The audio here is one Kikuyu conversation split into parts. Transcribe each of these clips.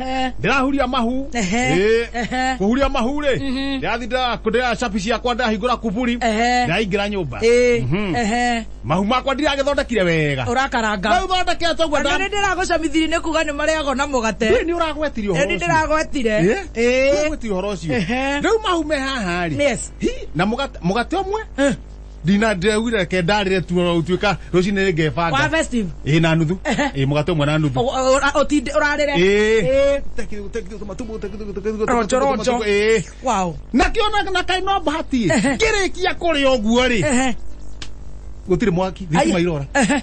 Eh, ndĩrahuria mahu Ehe. Ĩ, Ehe. kũhuria mahu rĩ Mhm. ndĩrathi ndĩra- ndĩra cabi ciakwa ndĩrahingũra kuburi Ehe. ndĩraingĩra nyũmba eh, Mhm. ehe. mahu makwa ndiragĩthondekire wega Ũrakaranga. rĩu thondekete ũguo Andũ nĩ ndĩragũcamithiri nĩ kuga nĩ marĩagwo na mũgate. nĩ ũragwetire ũhoro Nĩ ũcio. ndĩragwetire. Eh? Eh. Ũragwetire ũhoro ũcio Ehe. rĩu mahu me haha rĩ Yes. Hi, na mũgate mũgate ũmwe Eh. ndina ndĩraugire reke ndarĩre tu ona gũtuĩka rũcinĩ nĩngebanga Wa festive. ĩ na nuthu Ehe. ĩ mũgate ũmwe na nuthu Ũ- ũ- ũtinde ũrarĩre Ĩ. Rojo, rojo. Ĩ. wow nakĩo na- na kaĩ no bahati Ehe. ngĩrĩkia kũrĩa ũguo rĩ Ehe. gũtirĩ mwaki Ai. thitima irora Ehe.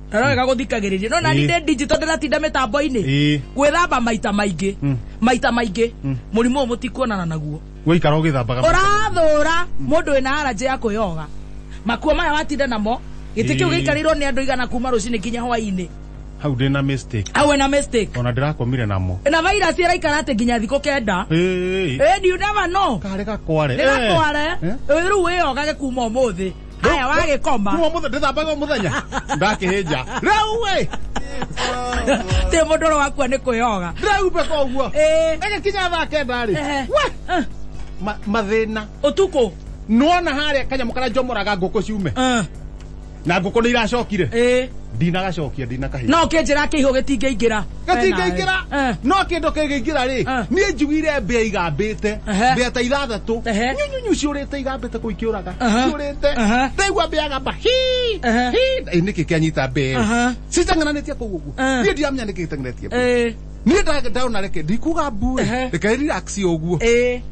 ndarorega gũthikagĩrĩria no nani ndĩ ndinjito ndĩratinda mĩtambo-inĩ Ĩĩ. gwĩthamba maita maingĩ Mm. maita maingĩ Mm. mũrimũ ũyũ mũtikuonana naguo gũikara ũgĩthambaga ũrathũra mũndũ wĩna aranjĩ ya kwĩyoga makuo maya watinda namo gĩtĩ kĩu Ĩĩ. gĩikarĩirwo nĩ andũ igana kuma rũcinĩ nginya hwainĩ hau ndĩ na mistake awe na mistake ona ndĩrakomire namo na virus ĩraikara atĩ nginya thikũ kenda Ĩĩ. Eh, do you never know karĩ gakware nĩgakware Eh. rĩu wĩyogage kuma ũmũthĩ aya wagikoma kuma muthe ndithambaga muthenya ndakihija riu we ti mundu ro wakua ni kwiyoga ndiraumbe koguo Eh. ĩgĩkinya thaa kenda rĩ Ehe. we Eh, ma- mathĩna utuku nona harĩa kanyamũ karĩa njomoraga ngũkũ ciume Eh, na ngũkũ nĩ iracokire eh. ndinagacokia ndinakahinda no kinjira kihu gitingeingira gatingĩingĩra Eh. no kĩndũ kĩngĩingĩra rĩ Eh. niĩ njiguire mbĩa igambĩte Ehe. mbĩa ta ithathatũ Ehe. nyunyunyu ciũrĩte igambĩte kũu ikĩũraga Aha. ciũrĩte Aha. ndaigua mbĩa agamba hi Ehe. hi Ĩ, nĩkĩ kĩanyita mbĩa Aha. citengananĩtie kũu ũguo Eh. niĩ ndiramenya nĩkĩ gĩtenganĩtie kũu. Eh, niĩ nda- ndona reke ndikuga mbu Ehe. reke relax ũguo eh.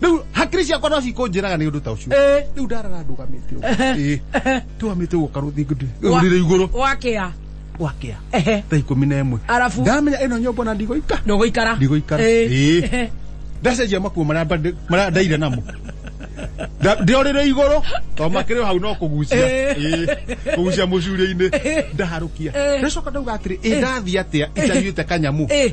riu hakiri ciakwa no cikũnjĩraga nĩ ũndũ ta ũcio Eh. riu ndarara ndũgamĩte ũguo. Ĩĩ. ndũgamĩte ũguo karũthi ngũndĩ Wa- ũrire igũrũ wakĩa gwakĩa Ehe. thaa ikũmi na ĩmwe Arabu? ndamenya ĩno nyũmba na ndigũika ndũgũikara ndigũikara Eh. Ĩĩ. ndacenjia makuo marĩa mba- marĩa ndaire namo Nda- ndĩorĩre igũrũ to makĩrĩ o hau no kũgucia Eh. Ĩĩ. kũgucia mũcuria-inĩ ndaharũkia Eh. ndacoka ndauga atĩrĩ ĩ ndathiĩ atĩa itanyuĩte kanyamu Eh.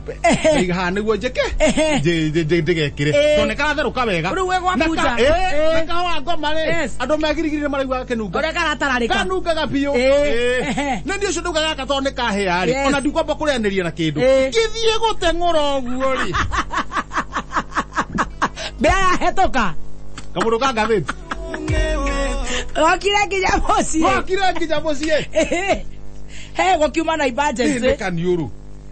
ndaiga haha niguo njeke Ehe. nji- nji- nji- ndigekire Eh. to nikaratherũka wega Rĩu we gwabunja. Na ka- eh, Eh. na kahũa ngoma rĩ Yes. andũ megirigiri nĩ maraigua kenunga Ũrĩa karatararĩka. kanungaga biũ Eh. Eh. Ehe. na nĩ ũcio ndauga gaka tondũ nĩ kahĩa rĩ Yes. ona ndikwamba kũrĩanĩria na kĩndũ Eh. gĩthiĩ gũteng'ũra ũguo rĩ Mbea yahetũka. kamũndũ ka ngathĩti Gokire nginya mũciĩ. wakire nginya mũciĩ Ehe. He gũkiuma na emergency. nĩ kaniũrũ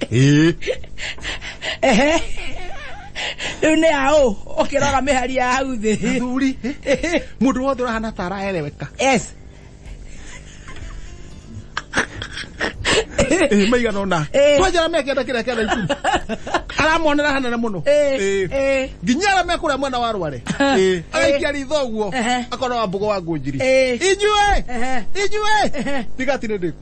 Ĩĩ. ehe rĩu nĩ aũ ũkĩrora mĩhari ya hau thĩ Gĩthuri. Mũndũ wothe ũrahana ta araereweka. yes Ĩĩ, maigana ona. Ĩĩ. Twajara mekenda kĩrĩa kĩenda ikumi. Aramonera hanene mũno. Ĩĩ, Ĩĩ. ĩĩ. nginya arĩa mekũrĩa mwena wa rware Ĩĩ. agaikia ritho ũguo Ehe. akona wa mbogo wa ngũnjiri Ĩĩ. inyuĩ Ehe. inyuĩ Ehe. ndigati nĩ ndĩku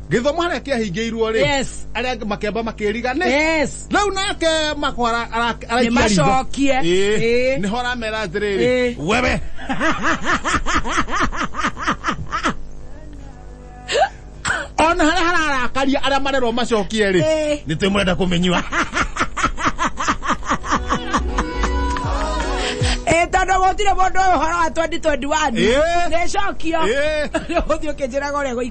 gĩthomo harĩa kĩahingĩirwo rĩ Yes. arĩa angĩ makĩamba makĩriga nĩ Yes. rĩu nake makwara Nĩmacokie. Ĩĩ. nĩho aramera atĩrĩrĩ Ĩĩ. wewe ona harĩa hararakaria arĩa marerwo macokie rĩ Ĩĩ. nĩ twĩ mũrenda kũmenyua Ĩ, tondũ gũtirĩ mũndũ ũyũ ũhoro wa 2021 Ĩĩ. nĩcokio Ĩĩ. ũthiĩ ũkĩnjĩraga ũrĩa gũikara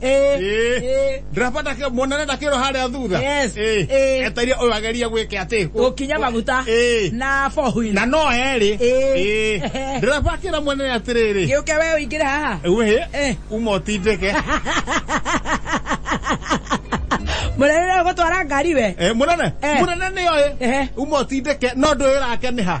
Eh, Ĩĩ. eh. ndĩrabata ke- muonane na kĩro harĩa thutha Yes. Ĩĩ. Ĩĩ. eteria ũyũ ageria gwĩke atĩ Gũkinya maguta Ĩĩ. na fohui. na no erĩ Ĩĩ. Ĩĩ. ndĩrabakĩra mwene atĩrĩrĩ Gĩũke we ũingĩre haha. wĩ Eh. uma ũtindĩke Mũrerere gũtwara ngari we. Eh, mũnene Eh. mũnene nĩ oĩ Ehe. uma ũtindĩke no ndũyũrake nĩ ha